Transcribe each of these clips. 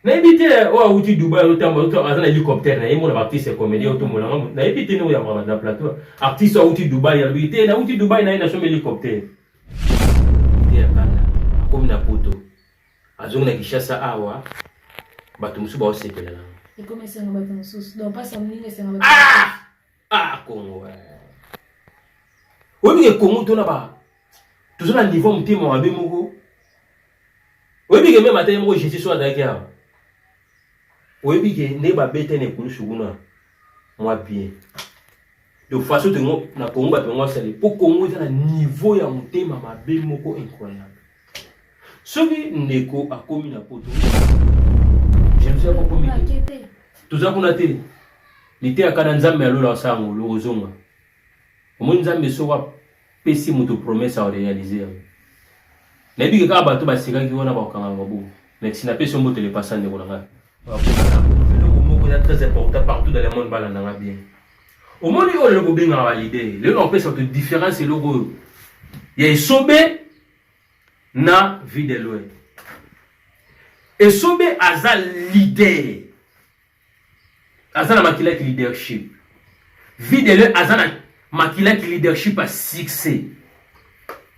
nayebi te oyo awuti dubai azotambola aza na hélicoptère na ye mona baartiste comédien oyo tomona nga nayebi te ndenge oyambaka na plateau artiste oyo awuti dubai alobi te nawuti dubai na ye na somi hélicoptère te ya kanda akomi na poto azongi na kinshasa awa bato mosusu baosepela na ekomi esengo bato mosusu donc mpasi ya moninga esengo ah! ah congo oyebi ke congo tona ba toza na niveau motema mabe moko oyebi ke meme ata ye moko jésus so azalaki awa oyebi ke nde babete na ekulusu kuna mwa bien de façon tengo na congo bato yango asali mpo congo eza na niveau ya motema mabe moko incroyable soki ndeko akomi na poto jalousie akokomi te toza kuna te liteyaka na nzambe ya lola osala ngolu ozonga omoni nzambe soko apesi moto promese aorealize yango nayebi ke kaka bato basekaki wana bakokanga yango bo mesi napesi yo mbote lepasa ndeko na ngai eloko moko eza très important partout dans le monde balanda ngai bien omoni oyo eloko obengaka balide lelo naopesa bato différence eloko oyo ya esobe na vie de loin esobe aza leader aza na makila ki leadership vie de loin aza na makila ki leadership ya succès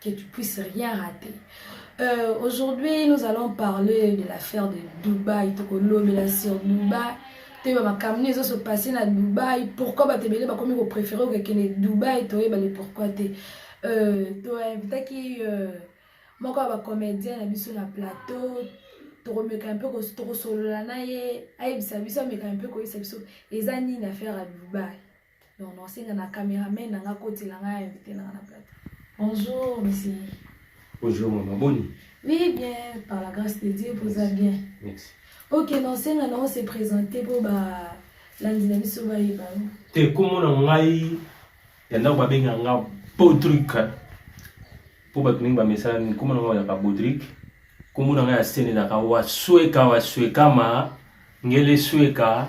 que tu puisses rien rater. Euh, Aujourd'hui, nous allons parler de l'affaire de Dubaï, Tokolomela sur Dubaï. te bamakambo ezo se passe na dubai pourquoi bato ebele bakomi kopréféré okekende dubai toyebale pourquoi te euh, toinvitaki euh, moko ya bacomédien na biso na plateau tokomeka mpe tokosolola na ye ayebisa biso ameka mpe koyebisa biso eza nini affaire ya dubai Non, non, senga na cameraman na nga kotela nga invité na nga na plateau. Bonjour, monsieur. Bonjour, maman. Boni? Oui, bien, par la grâce de Dieu, posa bien. Merci. Ok, non, senga na on se présenter pour ba landi na biso ba yeba. Te komona ngai ya ndako babenga nga Patrick. Po bato mingi bamesala nini komona ngai oyaka Patrick. Komona ngai ya sene naka wasweka waswekama ngele sweka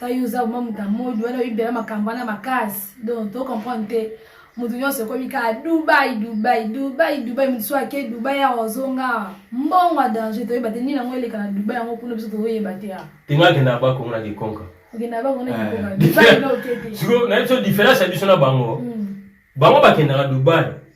tayo oza vraiment moto ya modi wana oyibela makambo wana makasi donc to comprendre te moto nyonso ekomi kaka dubai dubai dubai dubai moto so ake dubai awa ozonga mbongo ya danger toyeba te nini yango eleka na dubai yango kuna biso toyeba te awa tengo akenda bako mona kikonka akenda bako mona kikonka dubai nokete siko na biso diference ya biso na bango bango bakendaka dubai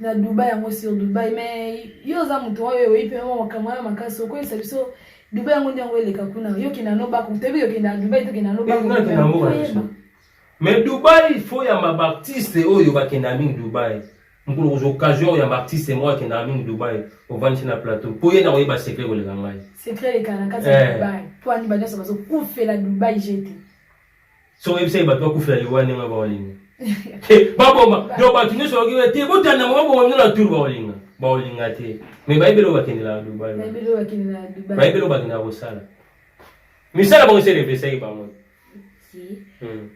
na Dubai yango sur Dubai mais yo oza moto oyo oyebi mpe mwa makambo wana makasi okoyebisa biso Dubai yango nde yango eleka kuna yo kenda no bako toyebi yo kenda Dubai to kenda no bako mais Dubai faut ya ma baptiste oyo bakenda mingi Dubai mokolo kozwa occasion oyo ya baptiste moko akendaka mingi Dubai ovandisi na plateau mpo ye na koyeba secret koleka ngai secret elekana kati ya eh. Dubai mpo ani banyoso bazokufela Dubai jete soko oyebisaki bato bakufela liwa ndenge oyo baolinga te baboma do bato nyonso bakokende te botanda mwa baboma bino na tour baolinga baolinga te mai bayebeli oyo bakendelaka dubai bayebeli oyo bakendaka kosala misala bango eselepesaki bango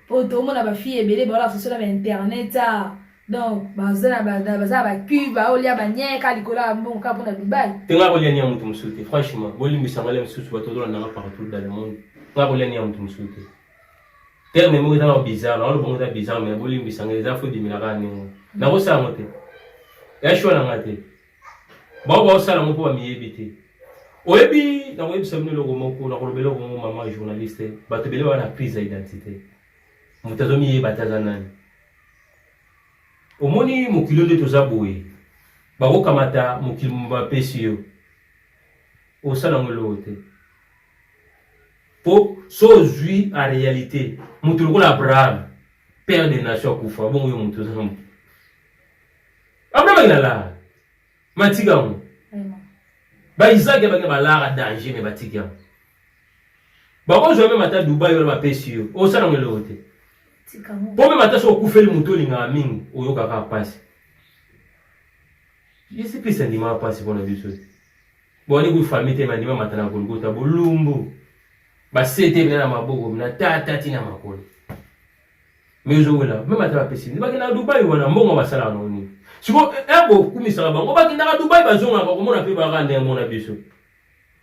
po tomona bafille ebele baolakisa sola ba internet a donc baza na baza na bacube baolia banyeka likolo ya mbongo kaka mpona dubai te nga kolia ni ya moto mosusu te franchement bolimbisa ngalia mosusu bato bazola nanga partout dans le monde nga kolia ni ya moto mosusu te terme moko ezanga bizarre naona bongo eza bizarre mai bolimbisa nga eza fo dimela kaka ndenge nakosala yango te ya shwa na nga te bao baosala yango mpo bamiyebi te oyebi nakoyebisa bino eloko moko nakolobela eloko moko mama journaliste bato ebele baa na crise ya identité moto azomiyeba te aza nani omoni mokili nde toza boye bakokamata mokili bapesi yo osala yango eloko te mpo so ozwi a réalité moto lokola abraham père de nation akufa bongo yo moto oza na moto abraham akenda lara matika yango baisaki abakenda balara danger me batiki yango bakozwa meme ata dubai wana bapesi yo osala ngo eloko te mpo meme ata soki okufeli moto olingaka mingi oyokaka mpasi yesu kristo andimaka mpasi mpo na biso boni kuy famille te bandima mata na golgota bolumbu basete bina na maboko bina tata ti na makolo me ozowela meme ata bapesi bini bakendaka dubai wana mbongo basalaka nango nini siko ebo eh, eh, okumisaka bango bakendaka dubai bazongaka komona mpe baka ndenge mona biso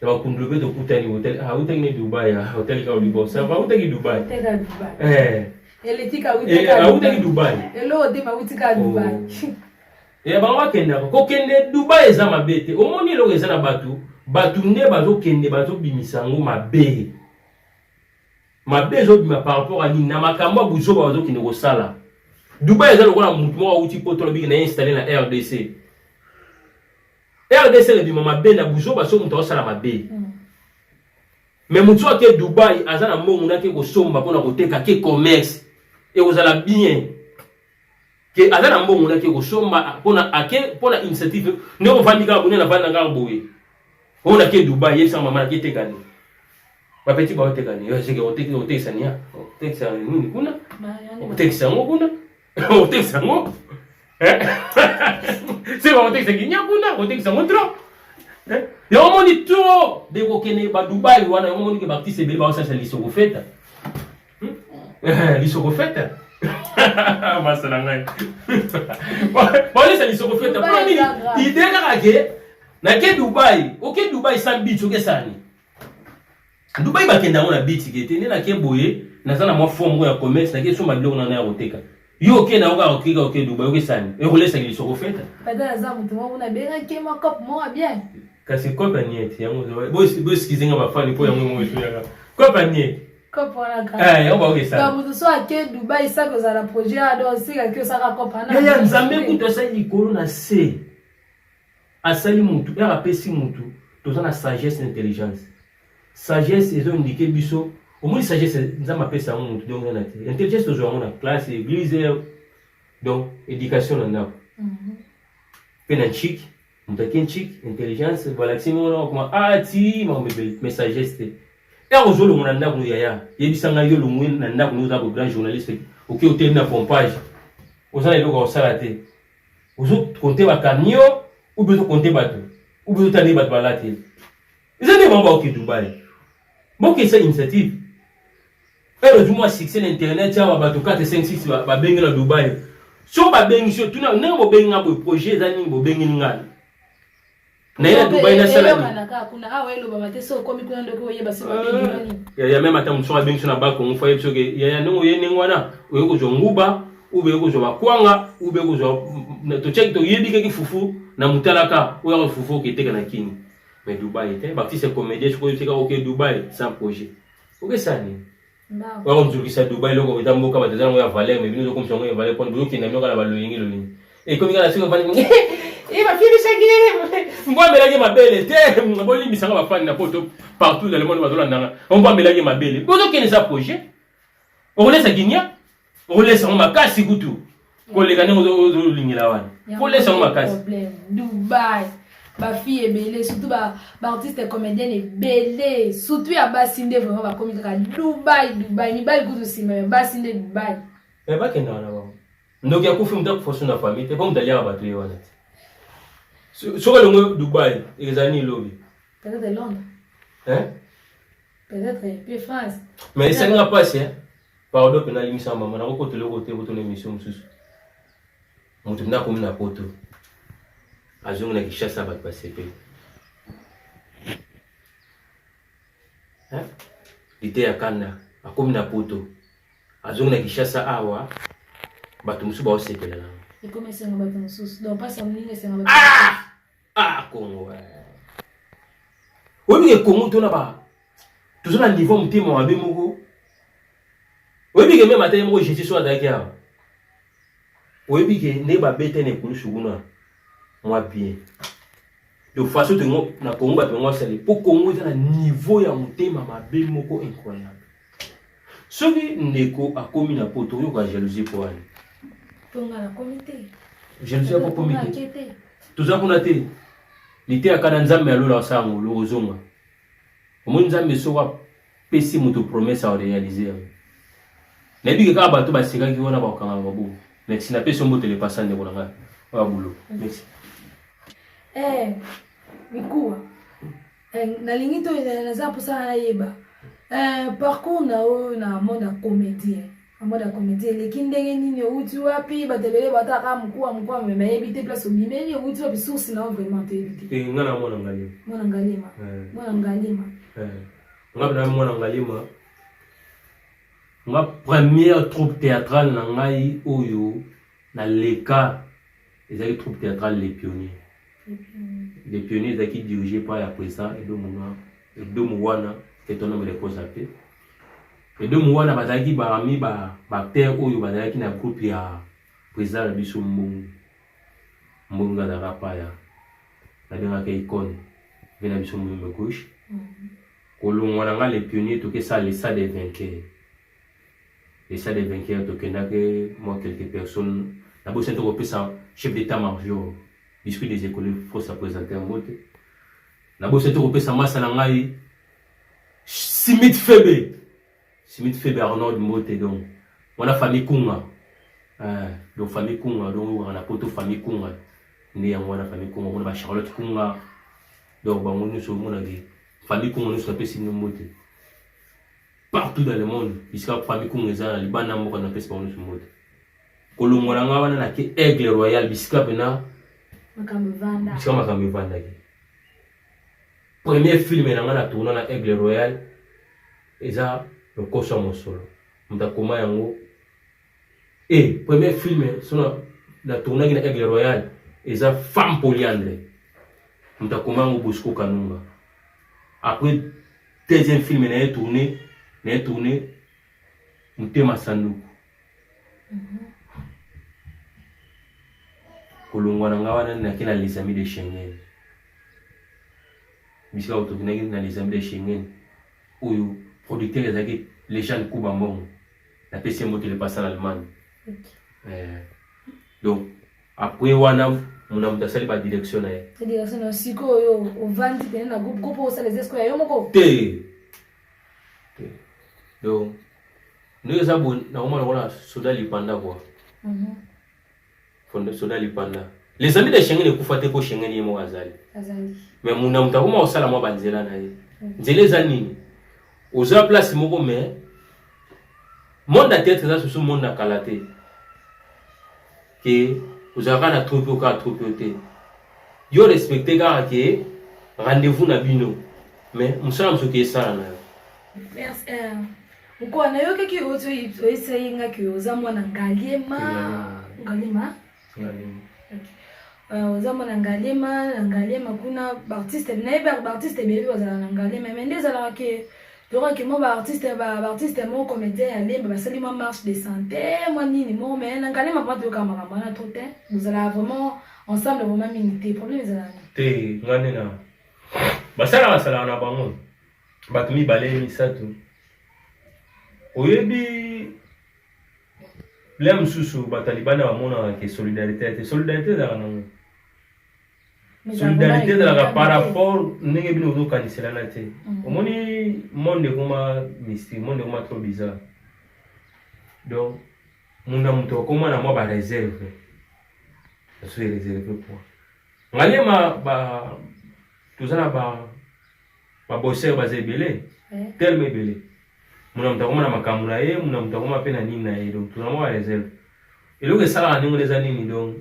na bakundulu mpe tokutani otali ah, otaki ne dubai ah, otali kaka libo sava autaki dubai autaki dubai ya bango bakendaka kokende dubai eza mabe te omoni eloko eza na bato bato nde bazokende bazobimisa yango mabe mabe ezobima par rapport a nini na makambo ya buzoba bazokende kosala dubai eza lokola motu moko auti poto alobiki na ye installe na rdc rdc ebima mabe na buzoba so moto aosala mabe mm. me motu ake dubai aza na mbongo nake kosomba mpona koteka ke commerce ekozala bien ke aza na mbongo nake kosomba mpona ake mpona initiative nde ovandi kaka bone na vandi na kaka boye oyo nake dubai yebisa mama nake tekani bapeti baotekani otekisania otekisa nini kuna otekisa yango kuna otekisa yango se bakotekisa kinya kuna kotekisa yango trop yango omoni trop de kokende badubai wana yango omoni ke baartiste ebele baosasa lisoko feta lisoko feta basa na ngai baolesa lisoko feta mpo nini ide kaka ke nake dubai oke dubai san bits okesani Dubai bakenda yango na bitike te nde nake boye naza na mwa fo moko ya commerce nake somba biloko nana ya koteka yo oke na yoka okika oke dubai okesani ekolesaki lisoko feta kasi kope ya niete yango boeskize nga bafani mpo yango yango esoyaka kope ya niete yaya nzambe kutu asali likolo na se Asali mutu, heure apesi mutu, toza na sagesse na intelligence. Sagesse ezo indiquer biso, omoni sagesse Nzambe apesa yango mutu donc na te. Intelligence tozwa yango na classe, église, donc éducation na ndako. Mhm. Pe na chic, mutu ake nchik, intelligence, balakisi ngo na kuma ah ti ma mebeli, mais sagesse te. Heure ozo longo na ndako yaya, yebisa ngai yo longo na ndako oza ko grand journaliste, oke otelemi na pompage. Oza na eloko ya kosala te. ozo compter ba camion ou bien ozo compter bato ou bien otali bato balati eza nde bango baoke dubai boke esa initiative ero du moins succès na internet awa bato 4 5 6 babengi na dubai so babengi so tuna ndenge bobengi nga boye projet eza nini bobengi ngai naye na dubai nasala ya meme ata mosusu abengisi na bakongo fo ayebi soki yaya ndenge oye ndenge wana oye kozwa nguba ube kozwa bakwanga ube kozwa totyaki toyebikaki fufu na motalaka oyo ako fufu oketeka na kini mais dubai te baptiste comédien soki oyotika oke dubai sans projet okesani Oya komizokisa Dubai eloko eza mboka bato eza yango ya valeur mais bino ozokomisa yango ya valeur mpo bozokende yango kaka na baloyenge loyenge ekomi kaka soki ofandi eh, bafilisaki mbo amelaki mabele te bolimbisanga bafani na poto partout dans le monde bazolandanga mbo amelaki mabele bozokende eza projet okolesa guinia okolesa yango makasi kutu koleka ndenge ozolingela wana kolesa yango makasi dubai bafille ebele surtout baartiste ba comédienne ebele surtout ya basi nde vraiment bakomi kaka dubai dubai mibali kutu nsima ya basi nde dubai eh, bakenda wana bango ndoki akufi moto akufa so na famille te mpo moto aliaka bato ye wana te soki olongo dubai ezali nini lobi peut-être londres peut-être pe france mais esenga mpasi Pardon pena limisa mama nako kota eloko te kotuna emission mosusu. Moto mna komi na poto. Azongi na Kinshasa bato basepeli. Hein? Lite ya kanda akomi na poto. Azongi na Kinshasa awa bato mosusu baosepela na. Ekomi esengo bato mosusu. Donc pasi ya moninga esengo bato. Ah! Ah Congo. Oyebi ke Congo tona ba tozo na niveau motema mabe moko. Oyebi ke meme ata ye moko Jesus oyo azalaki awa. Oyebi ke nde babete na ekulusu kuna mwa bien. De façon tongo na Congo bato yango basali mpo Congo eza na niveau ya motema mabe moko incroyable. soki ndeko akomi na poto oyoka jalousie mpo wana jalousie yako komi te toza kuna te liteyaka na nzambe ya lola asala yango lokozonga omoni nzambe soko apesi moto promese arealize yango nayebi ke kaka bato basekaki wana bakokanga mabu merci napesi yo mbotele pasa ndeko na ngai oyo abulo merci eh, mikuwa Eh, nalingi to eh, naza mposa nayeba eh, parcours na oyo na monde ya comédie na monde ya comédie eleki ndenge nini owuti wapi bato ebele bataka mokuwa mokuwa me bayebi te place obimeli owuti wapi source na yo vraiment toyebi te nga na mwana ngalima mwana ngalima mwana ngalima nga na mwana ngalima nga première troupe théâtrale na ngai oyo naleka ezalaki troupe théâtrale les pionniers les pionniers ezalaki dirige par ya presa edo mona edo mowana etonome le koza te edo mowana bazalaki parmi ba acteur oyo bazalaki na groupe ya presa na biso mbongo mbongo azalaka paya nabengaka icone mpe na biso mbongo gauche kolongwa na nga les pionniers tokesala lesa des vainqueurs les salles des vainqueurs tokendaki mwa quelques personnes na bosani to kopesa chef d'état major discours des écoles faut sa présenter yango te na bosani to kopesa masa na ngai simit febe simit febe arnold mbote donc wana famille kunga eh, donc famille kunga donc wana na poto famille kunga nde yango wana famille kunga omona ba charlotte kunga donc bango nyonso omonaki famille kunga nyonso napesi nombo te partout dans le monde bisika famille kunga eza na libanda mboka na pesi bango nyonso mbote kolongola ngai wana na ke aigle royal bisika mpena bisika makambo evandaki premier film na ngai na tourna na aigle royal eza lokoso ya mosolo moto akoma yango Eh, premier film sona na tournaki na Aigle Royal eza femme polyandre. Mutakomango Bosco Kanunga. Après deuxième film na ye tourné, na ye tourné Mutema Sanduku. Mm -hmm. kolongwa na nga wana nake na les amis de Schengen bisika otokinaki na les amis de Schengen oyo producteur ezalaki Lejane Kuba Mbongo napesi ye mbote lepasa na allemagne eh, donc apres wana muna moto asali badirection na ye direction na sikoyo ovandi pene na groupe groupe osala eza sikoyo ya yo moko te te donc ndenge eza boye nakomona lokola soda lipanda kua Fondo soda lipanda. Les amis de Schengen ekufa te ko Schengen ye moko azali. Azali. Mais muna mutu akoma kosala mwa banzela na ye. Mm. Nzela eza nini? Oza place moko mais monde ya théâtre eza susu monde na kala te. Ke ozalaka na troupe oka troupe yo te. Yo respecte kaka ke rendez-vous na bino. Mais musala musuki esala na yo. Merci. Euh, Mkoa nayokaki ozo oyesa ye nga ke oza mwana ngaliema ngaliema euh, oza mwana ngaliema na ngaliema kuna baartiste nayebi baartiste ebebi bazala na ngaliema me nde ezalaka ke tokaki mwa baartiste baartiste moko comédien ya lemba basali mwa marche de santé mwa nini moko me na ngaliema mpa toyokaka makambo wana trop te bozalaka vraiment ensemble vraiment mingi te problème ezalaka te nga nde na basala basalaka na bango bato mibale misato oyebi lea mosusu batalibani bamonaka ke solidarité ya te solidarité ezalaka nango solidarité ezalaka par rapport ndenge bino ozokaniselana te mm. omoni monde ekoma mystique monde ekoma trop bizarre donc moto na moto akoma na mwa bareserve soki ereserve mpo ngalema toza na ba ba bosseur baza ebele tellement ebele muna moto akoma na makambo na ye muna moto akoma mpe na nini na ye donc tozango ba reserve eloko esalaka ndenge wana eza nini donc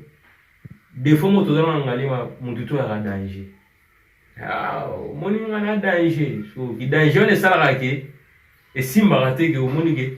defo moto ozana na ngalima motu to yaka danger ah, omoni nga na danger so ki danger wana esalaka ke esimbaka te ke omoni ke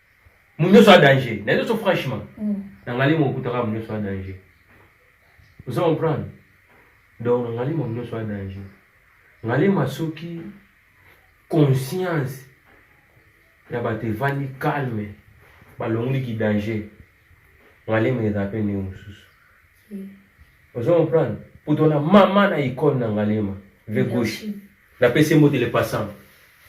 munyoso a danger na nyoso franchement mm. na ngali mo kutaka munyoso a danger ozo comprendre donc na ngali mo munyoso a danger ngali masoki conscience ya bato evandi calme balongoli ki danger ngali mo eza pe ndenge mosusu ozo comprendre poto na mama na icone na ngalema vie gauche napesi ye mbote le passant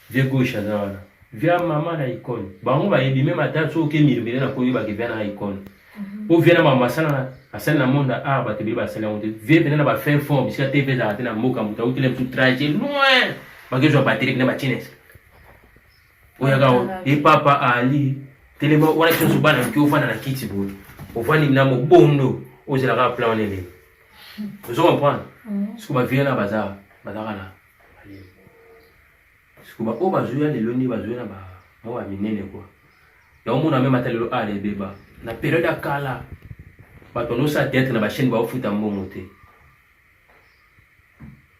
vie gauche aza wana via mama na icone bango bayebi meme ata soki oke milobele na koyebake via na icone mhm. po via na mama asala asali na monde ya art bato ebele basali yango te vie pena na bafin fond bisika te mpe ezalaka te na mboka moto autele mosu traje loin bakezwa batele pena batineske oyaka e papa ali telema wana kioso bana mike ofanda na kiti boye ofandi na mobondo ozelaka plan wana eleki ozo comprendre mm. siko bavie na baza bazaka na siko baoyo bazoya lelo nde bazoya na bango ya minene kua yango mona meme ata lelo ala ebeba na periode ya kala bato nyonso ya teatre na bachaine baofuta mbongo te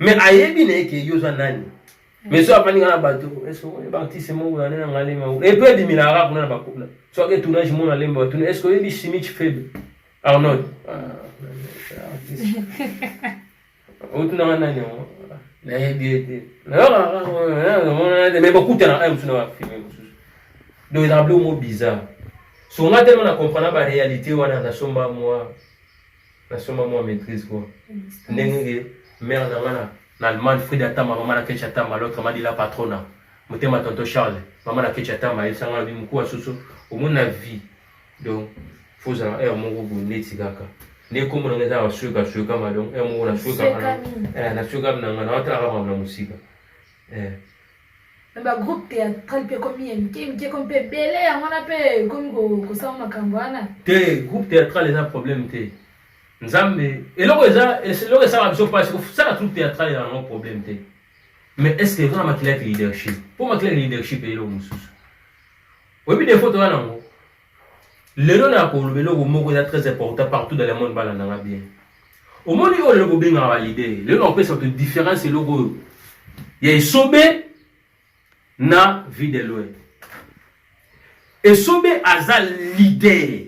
me ayebi na ye ke yo oza nani me so afandi nga na bato eartiste moko yane na ngalema epe ebiminaka kuna na bakuna soki etournage mona lemba batuna eske oyebi simich faible arnold otunanga nani yango nayebi ye te me bakutana aye mosusu na bafilme mosusu donc ezaka bilo mo bizarre songa telema na comprendre baréalité wana nasomba mwa nasomba mwa maîtrise quoi ndenge ke mère na nga na allemagne frida tama mama na kecha tama l'autre madi la patrona motema tonto charles mama na kecha tama yesanga lobi mokuwa susu omoni na vie donc faut ozala heure moko boye neti kaka nde nkombo na nga eza basueka suekama donc heure moko nasuekama na suekami na nga naotalaka mama na mosika eh. me bagroupe théâtral mpe ekomi ya mike mike ekomi mpe ebele yango wana mpe ekomi kosala makambo wana te groupe théâtral eza problème te nzambe eloko eza eloko esala biso mpasi kosala troupe théâtral eza yango problème te mais est ce que eza na makila ya leadership mpo makila ya leadership eyeloko mosusu oyebi defo toza nango lelo na koloba eloko moko eza très important partout dans le monde balanda nga bien omoni oyo lelo bobengaka balide lelo na kopesa bato différence eloko oyo ya esobe na vie de loin esobe aza leader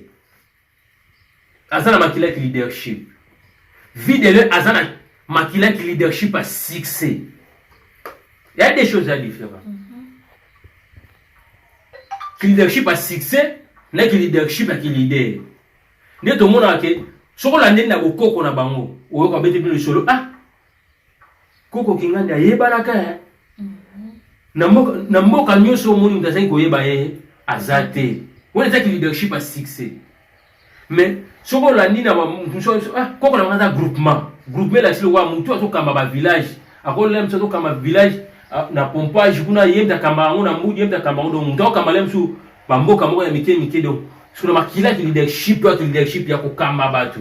aza na makila ki leadership videle aza na makila ki leadership ya succès ya des choses ya différent mm -hmm. ki leadership ya succès na ki leadership ya ki leader nde tomonaka ke soki olandeli na bokoko na bango oyoka bete bino lisolo ah Koko Kingandi ayebanaka eh? mhm. na mboka nyonso omoni moto azali koyeba ye eh? aza te wana ezaki leadership ya succès mais soki olandi na ah, koko na aza groupement groupement elakisi lokola motu azokamba bavillage akolela mosu azokamba village ah, na pompage kuna ye mpe akamba yango na mbudi ye mpe akamba yango donc motu akokamba le mosusu bamboka moko ya mike mike donc sona makilaki leadership to ake leadership ya kokamba bato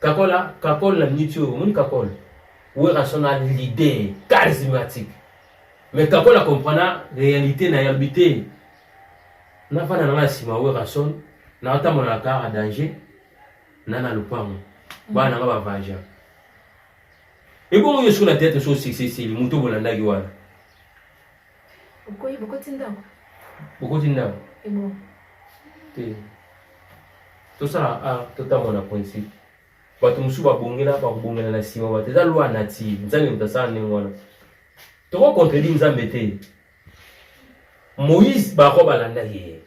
Kakola, kakol na niti oyo, omoni kakol? Werrason a l'idée charismatique. Mais kakol a comprendre réalité na yambi te. Na fana na nga sima Werrason, na otamo na kara danger, na na lupango. Ba na nga ba vaja. Ebongo yo suna tete so sisi sili, muto bolandaki wana. Bokoyi bokoti ndako. Bokoti ndako. Ebo. Te. Tosala a totambola na principe. Bato mosusu babongela bakobongela na nsima bato eza loi native nzambe moto asala ndenge wana toko contredire nzambe te moïse bako balandaki ye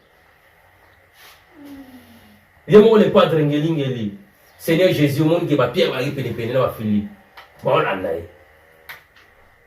ye moko le padre ngelingeli seigneur jésus omoni ke bapierre balaki penepene na bafilipe baolanda ye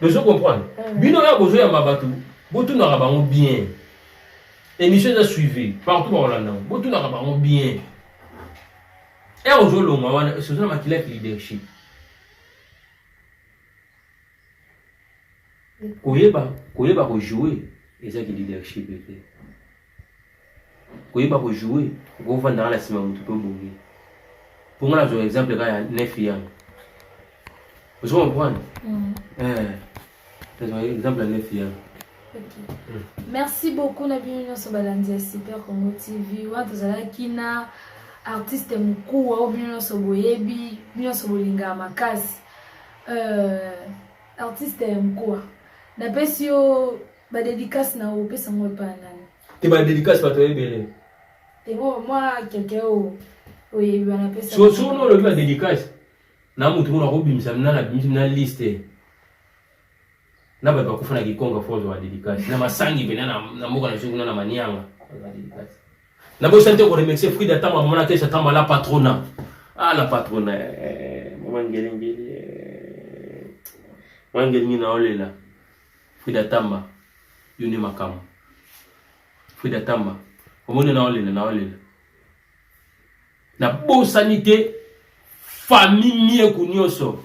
Bozo comprendre? Mm. Bino ya bozo yamba batu, botunaka bango bien. Emission eza suivi partout ba Holanda. Botunaka bango bien. Et ozo longa wana, c'est ça makila ki leadership. Koyeba, koyeba ko jouer, eza ki leadership ete. koyeba ko jouer okovanda kaka na nsima motu mpe obongi mpo ngai nazwa exemple kaka ya nefi yango ozo comprendre mm. eh, nazwa exemple ya nefi yango mm. merci beaucoup na bino nyonso balandi ya super congo tv wana tozalaki na artiste mokuu oyo bino nyonso boyebi bino nyonso bolingaka makasi euh, artiste ya mokua napesi yo Ba dedicace na opesa ngo epa ya nani? Te ba dedicace bato ebele. Te bo mwa keke o oyebi wana pesa. So so no lobi ba dedicace. Na mutu mona ko bimisa na na bimisa na liste. Na ba bakufa na kikonga fozo ba dedicace. Na masangi bena na na mboka na zungu na manianga. Ba dedicace. Na bo sante ko remercier Frida Tama mona kesa Tama la patrona. Ah la patrona. Eh, mama ngelengele. Mama ngelengele na olela. Frida Tamba, yo nde makambo. Frida Tamba, omoni na olela na olela. Na bosani te famille Mieku nyonso.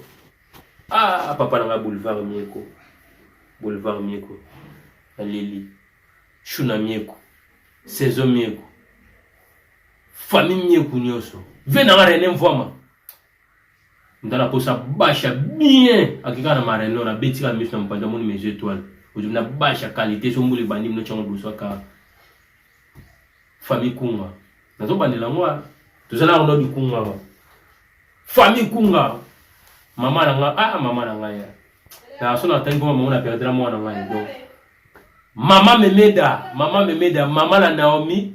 Ah papa na nga boulevard Mieku. Boulevard Mieku. Na leli. Shuna Mieku. Saison Mieku. Famille Mieku nyonso. Ve na nga René Mvwama. ndala kosa basha bien akika na mareno na beti ka miso na mpanda moni mes étoiles ozumi na basha qualité so mbuli bandi mino chango boso aka famille kunga nazo bandela ngo toza na ngo bikunga ngo famille kunga mama na nga ah mama na nga ya na so na tangi ko mama na perdre mwana nga donc mama memeda mama memeda mama la Naomi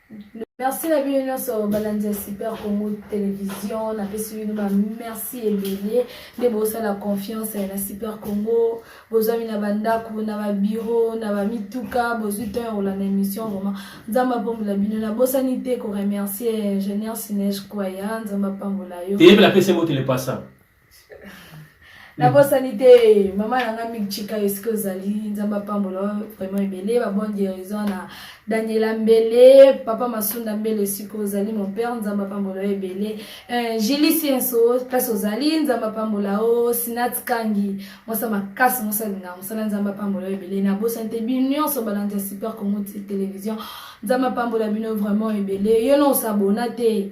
merci na bino nyonso balandi ya super congo television napesi bino ba merci ebele nde bosala confiance na super congo bozwami na bandako na babiro na bamituka bozwi temps ya kolanda émission vraiment nzambe apambola bino nabosani te koremercier ingénieur sinege kwaya nzambe apambola yo eyebela pesi motele pasa nabosani te mama na nga mik chika esike ozali nzambe apambola vraiment ebele babon guérison na daniela mbele papa masunda mbele esike ozali mon père nzambe apambola yo ebele eh, jili sienso place ozali nzambe apambola o sinat kangi mosa makasi mosalinga mosala nzambe apambola yo ebele nabosani te bino nyonso balandi ya super congo télévision nzambe apambola bino vraiment ebele yo no osabona te